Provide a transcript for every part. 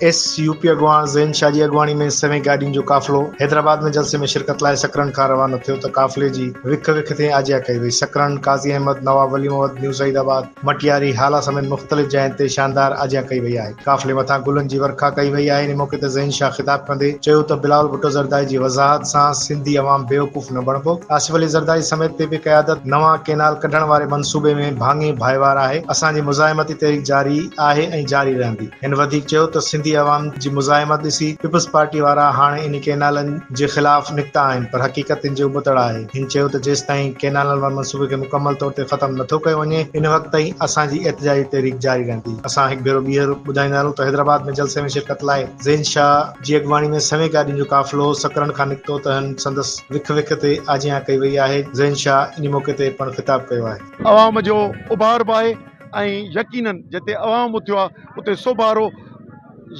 S U P اڳواڻ زين شاهه جي اڳواڻي ۾ سوين گاڏين جو قافلو حيدرآباد ۾ جلسي ۾ شرڪت لاء سڪرنڊ کان روانو ٿيو ته قافلي جي وک وک تي آجيان ڪئي وئي سڪرنڊ قاضي احمد نواب ولي محمد نيوزايد آباد مٽياري، هالا سميت مختلف جاين تي شاندار آجيان ڪئي وئي آهي. قافلي مٿان گلن جي ورکا ڪئي وئي آهي. ان موقعي تي ذهين شاهه خطاب ڪندي چيو ته بلاول ڀٽو زرداري جي وضاحت سان سنڌي عوام بيوقوف نه بڻبو. آصف علي زرداري سميت پي پي قيادت نوان ڪينال ڪڍڻ واري منصوبي ۾ ڀاڱي ڀائيوار آهي. اسان جي مزاحمتي تحريڪ جاري آهي ۽ جاري رهندي. هن وڌيڪ چيو ته سنڌي عوام جي مزاحمت ڏسي پيپلز پارٽي وارا هاڻي انهي ڪينالن جي خلاف نڪتا آهن پر حقيقت تن جي ابتڙ آهي. هن چيو ته جيستائين ڪينالن واري منصوبي کي مڪمل طور تي ختم نٿو ڪيو وڃي ان وقت تائين اسان جي احتجاجي تحريڪ جاري رهندي. اسان هڪ ڀيرو ٻيهر ٻڌائيندا هلون ته حيدرآباد ۾ جلسي ۾ شرڪت لاء زين شاهه جي اڳواڻي ۾ سوين گاڏين جو قافلو سڪرنڊ کان نڪتو تهن سندس وک وک تي آجيان ڪئي وئي آهي. زين شاهه انهي موقعي تي پڻ خطاب ڪيو آهي. عوام جو اڀار به آهي ۽ يقينن جتي عوام اٿيو آهي اتي سوڀارو.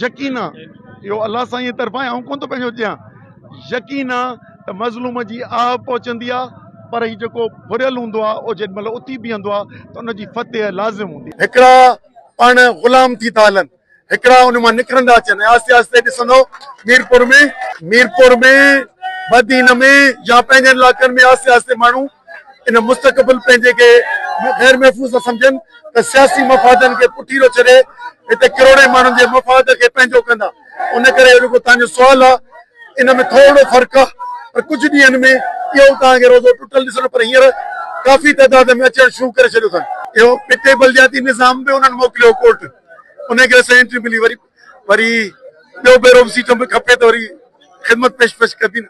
يقين آ اهو الله سائينء طرفان آهي، آئون ڪونه ٿو پنهنجو ڏيان. يقين آ ته مظلوم جي آهه پهچندي آ، پر هي جيڪو ڦريل هوندو آ، اهو جيڏي مهل اٿي بيهندو آ ته ان جي فتح لازم هوندي آ. هڪڙا پاڻ غلام ٿي ٿا هلن، هڪڙا ان مان نڪرندا اچن ۽ آهستي آهستي ڏسندو ميرپور ۾، ميرپور ۾، بدين ۾، يا پنهنجن علائقن ۾ آهستي آهستي ماڻهو ان مستقبل پنهنجي کي غير محفوظ نه سمجهن ته سياسي مفادن کي پٺي رهه ڇڏي هتي ڪروڙين ماڻهن جي مفاد کي پنهنجو ڪندا ان ڪري اهو رڳو توهان جو سوال آهي ان ۾ ٿورڙو فرق آهي پر ڪجهه ڏينهن ۾ اهو به توهان کي روزو ٽٽل ڏسڻو پر هينئر ڪافي تعداد ۾ اچڻ شروع ڪري ڇڏيو اٿن. اهو پٽي بلدياتي نظام به انهن موڪليو ڪورٽ انهي ڪري اسان کي انٽري ملي وري وري ٻيو ڀيرو به سيٽ ۾ کپي ته وري خدمت پيش پيش ڪبي نه.